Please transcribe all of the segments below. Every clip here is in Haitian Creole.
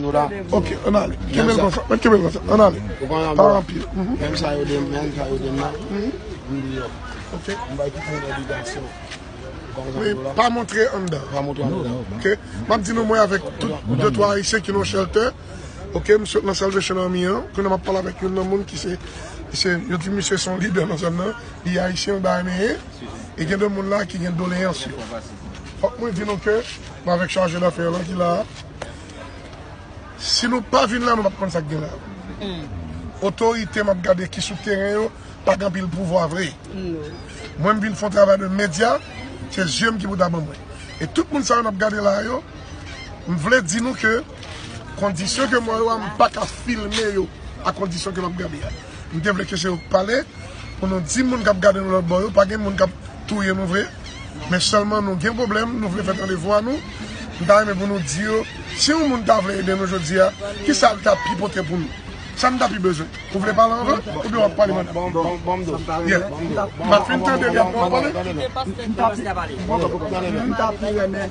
Nou la. Ok, an ale. Kenbe l konsa. Mèt kenbe l konsa. An ale. Ou pa nan bwa. Menm sa yo dem menm sa yo dem nan. Vin deyò. Ok. M bay tout moun obligasyon. Men pa montre anndan. Pa montre anndan. Ok. M ap di nou mwen avèk tout de twa ayisyen ki nan shelter. Ok. M sot nan Salvation Army an. Kounye a m ap pale avèk youn nan moun ki se yo di misye se yon lidè nan zòn nan. Li ayisyen bayaneyen. E gen de moun la ki gen doleyans yo. Fòk mwen di nou ke m avèk chaje dafè lan ki la a. Si nou pa vin la nou pap konn sak gen la. Otorite map gade ki sou teren yo pa gen anpil pouvwa vre. Mwen m vin fon travay de medya, se zye m ki pou ta ban mwen. E tout moun sa yo nap gade la yo, m vle di nou ke kondisyon ke mwen yo a m pa ka filme yo a kondisyon ke map gade a. M te vle ke se yo k pale pou nou di moun kap gade nou lòt bò yo pa gen moun kap touye nou vre. men sèlman nou gen pwoblèm, nou vle fè tande vwa nou, m ta renmen pou nou di yo, si yon moun ta vle ede nou jodi a, ki sa l ta pi pote pou nou? Sa n ta pi bezwen? Ou vle pale anvan, oubyen w ap pale pandan m pale? M ap fin tande li apre w ap pale? M ta pi renmen.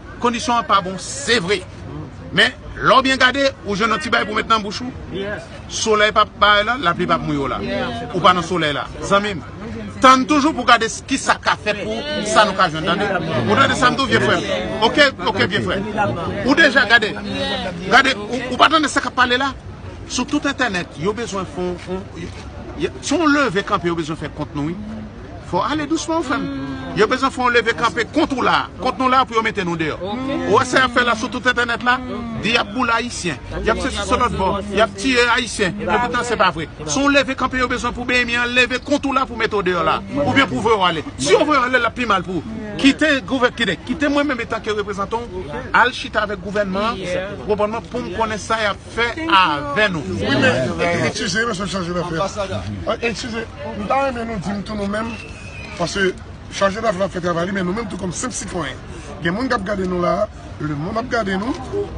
Kondisyon an pa bon se vre Men lè w byen gade ou jwenn yon ti bagay pou w met nan bouch ou Solèy pa parèt la lapli pa mouye w la Ou pa nan solèy la zanmi m Tann toujou pou w gade ki sa k ka fèt pou sa nou ka jwenn tande Ou tande sa m di w vye frè m Ok ok vye frè Ou deja gade Gade ou pa tande sa k ap pale la Sou tout entènèt yo bezwen fon Son leve kanpe yo bezwen fè kont nou wi Fò ale dousman ou frèm. Yo bezwen fè yon leve kanpe kont ou la, kont nou la pou yo mete nou deyò. Ou wè sa yap fè la sou tout entènèt la? Di yap boule ayisyen, yap sesi sou lòt bò, yap tiye ayisyen, epoutan se pa vre. Se yon leve kanpe yo bezwen pou BMI an leve kont ou la pou mete w deyò la, oubyen pou voye w ale. Si yo voye w ale lap pi mal pou ou. Kite gouvè, kite mwen menm etanke reprezantan w al chita avèk gouvènman an, ou konprann mwen, pou m konnen sa yap. fè avè nou. Wi men eskize mesye chanje dafè a eskize m ta renmen nou dim tou nou menm paske chanje dafè la ap fè travay li men nou menm tou kòm senp sitwayen gen moun kap gade nou la a lemonn ap gade nou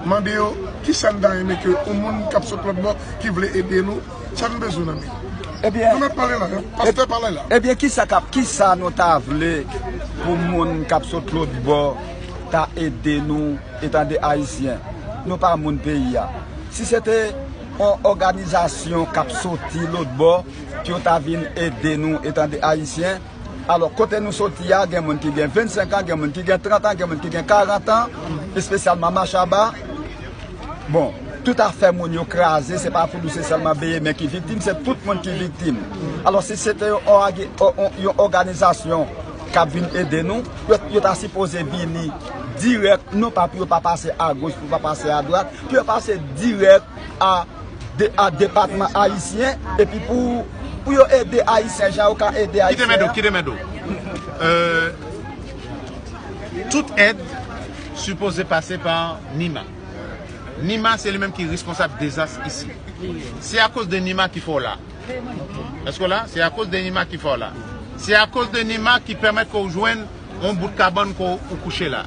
mande yo kisa n ta renmen ke yon moun kap sot lòtbò ki vle ede nou sa n bezwen nan men yo nou mèt pale la a pastè pale la a ebyen kisa kap kisa nou ta vle pou moun kap sot lòtbò ta ede nou. E tande ayisyen, nou pa moun peyi a. Si se te yon òganizasyon k ap soti lotbò pou yo ta vin ede nou, e tande ayisyen, alò kote nou soti a gen moun ki gen 25 an, gen moun ki gen 30 an, gen moun ki gen 40 an, espesyalman Mashaba, bon, tout afè moun yo kraze, se pa Foulou se sèlman Beyemen ki viktim, se tout moun ki viktim. Alò si se te yon òganizasyon k ap vin ede nou, yo ta sipoze vini. dirèk non pa pou yo pa pase a goch pou yo pa pase a dwat pou yo pase dirèk a depatman ayisyen epi pou yo ede ayisyen jan yo ka ede ayisyen kite mèdo kite mèdo eee tout èd sipoze pase pa nima nima se li menm ki responsab dezas isi se a koz de nima ki fè w la èske w la se a koz de nima ki fè w la se a koz de nima ki pèmèt ke w jwenn yon bout kabann ke ou kouche la.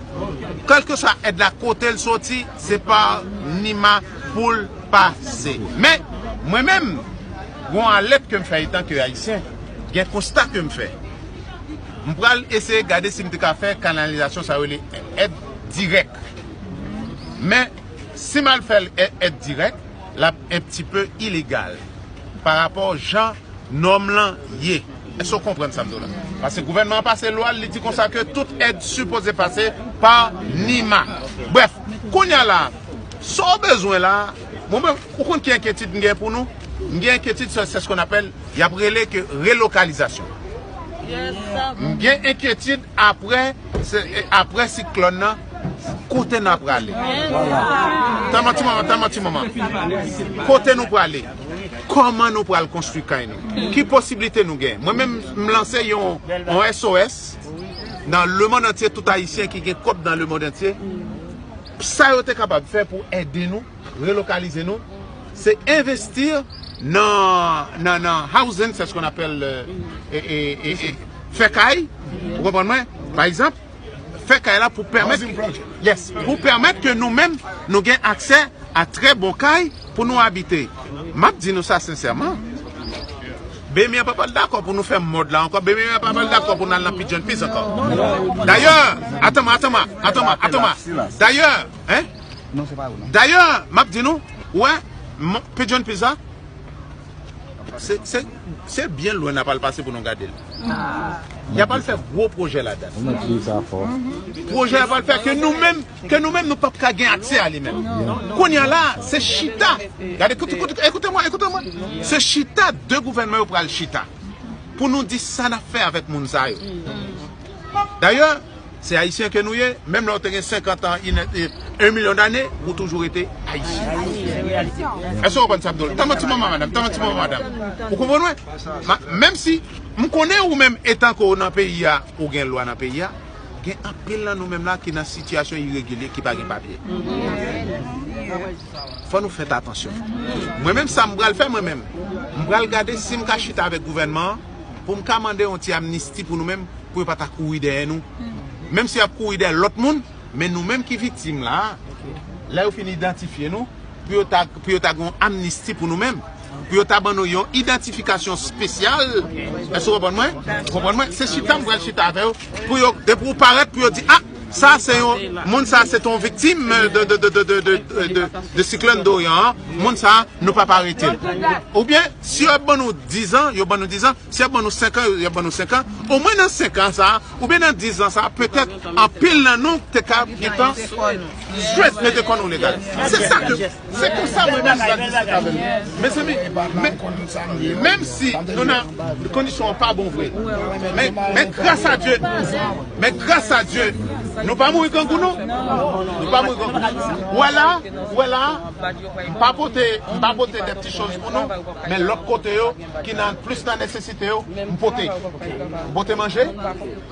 Kelkeswa èd la kote l soti, se pa Nima pou l pase. Men, mwen menm, gen yon alèt ke m fè etan ke Ayisyen, gen konsta ke m fè. M pral eseye gade si m te ka fè kanalizasyon sa yo rele èd dirèk. Men, si m al fè l èd dirèk, L ap enptipe ilegal pa rapò jan nòm lan ye. Èske w konprann sa m di w la? Pase gouvènman an pase lwa l, li di konsa ke tout èd sipoze pase pa NIMA. Brèf, kounye a la a, sa w bezwen la a, mwen menm, ou konn ki enkyetid m gen pou nou? M gen enkyetid sou sè skon apèl, y ap rele ke relokalizasyon. M gen enkyetid apre, apre siklòn nan, Kote na prale? Tama ti manman, tama ti manman. Kote nou prale? Koman nou pral konstwi kay nou? Ki posibilite nou gen? Mwen menm m lanse yon SOS nan le mond antye tout ayisyen ki gen kob nan le mond antye. Sa yo te kapab fè pou ede nou, relokalize nou, se envesti nan housing, se skon apel fè kay, ou konprann mwen? Pa egzanp. fè kay la pou pèmèt ke nou menm nou gen aksè a trè bon kay pou nou abite. M ap di nou sa sensèman, BMI an pa pral dakò pou nou fè mòd la ankò, BMI an pa pral dakò pou nou al nan Pigeon Peas ankò. Dayè, atanm, atanm, atanm, atanm, dayè, dayè, m ap di nou, ou wè, Pigeon Peas la, Se byen lwen nap al pase pou nou gade l. Yap al fè gwo pwojè ladann. Pwojè yap al fè ke nou menm ke nou menm nou pap ka gen aksè a li menm. Kounya la se chita, gade ekoute mwen ekoute mwen se chita 2 gouvènman yo pral chita pou nou di sa nap fè avèk moun sa yo. Dayè Se Ayisyen ke nou ye, menm lè ou te gen 50 an, in et, un million d'années, ou toujou rete Ayisyen. Èske ou konprann sa m di w la? Tann mwen ti moman madam, tann mwen ti moman madam. Ou konprann mwen? Ma, menm si, m konnen ou menm etan ke w nan peyi a, ou gen lwa nan peyi a, gen anpil nan nou menm la ki nan sitiyasyon iregilye, ki pa gen papye. Fò nou fèt atansyon. Mwen menm sa m pral fè mwen menm, m pral gade si m ka chita avèk gouvènman an, pou m ka mande yon ti amnisti pou nou menm pou yo pa ta kouri dèyè nou menm si y ap kouri dèyè lòt moun men nou menm ki viktim la a lè yo fin idantifye nou pou yo ta pou yo ta gen yon amnisti pou nou menm pou yo ta ban nou yon idantifikasyon spesyal èske w konprann mwen konprann mwen se chita m pral chita avè yo pou yo depi w parèt pou yo di a. Sa se yon moun sa se te yon viktim de siklòn Dorian an, moun sa nou pap arete l. Oubyen si yo ap ban nou 10 zan, yo ban nou 10 zan, si yo ap ban nou 5 an, yo ap ban nou 5 an, omwen nan 5 an sa a, oubyen nan 10 zan sa a petèt anpil nan nou te ka gentan jwenn mete kò nou legal. Se sa ke. Se konsa mwen menm pral diskite avè nou. Mezanmi, men, menm si nou nan kondisyon an pa bon vre, men, men gras a Dye, men gras a Dye, nou pa mouri grangou non. Nou pa mouri grangou. Ou wè la a, ou wè la a, m pa pote, m pa pote de pti choz pou nou, men lòt kote yo ki nan, plis nan nesesite yo, m pote. M pote manje.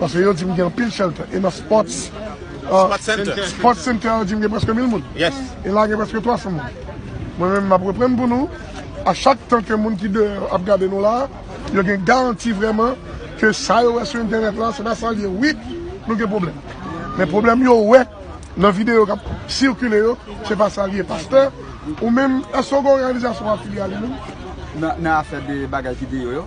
Paske yo di m gen anpil shelter. E nan sports Sports center yo di m gen preske mil moun. E la gen preske 300 moun. Mwen menm m ap reprann pou nou. A chak tan ke moun ki deyò ap gade nou la, yo gen garanti vreman ke sa yo wè sou entènèt la se pa sa l ye. Wi, nou gen pwoblèm. Men pwoblèm yo wè nan videyo k ap sikile yo, se pa sa l ye. Pastè, ou menm, èske w gen òganizasyon w afilye a li menm? Nan afè de bagay videyo yo?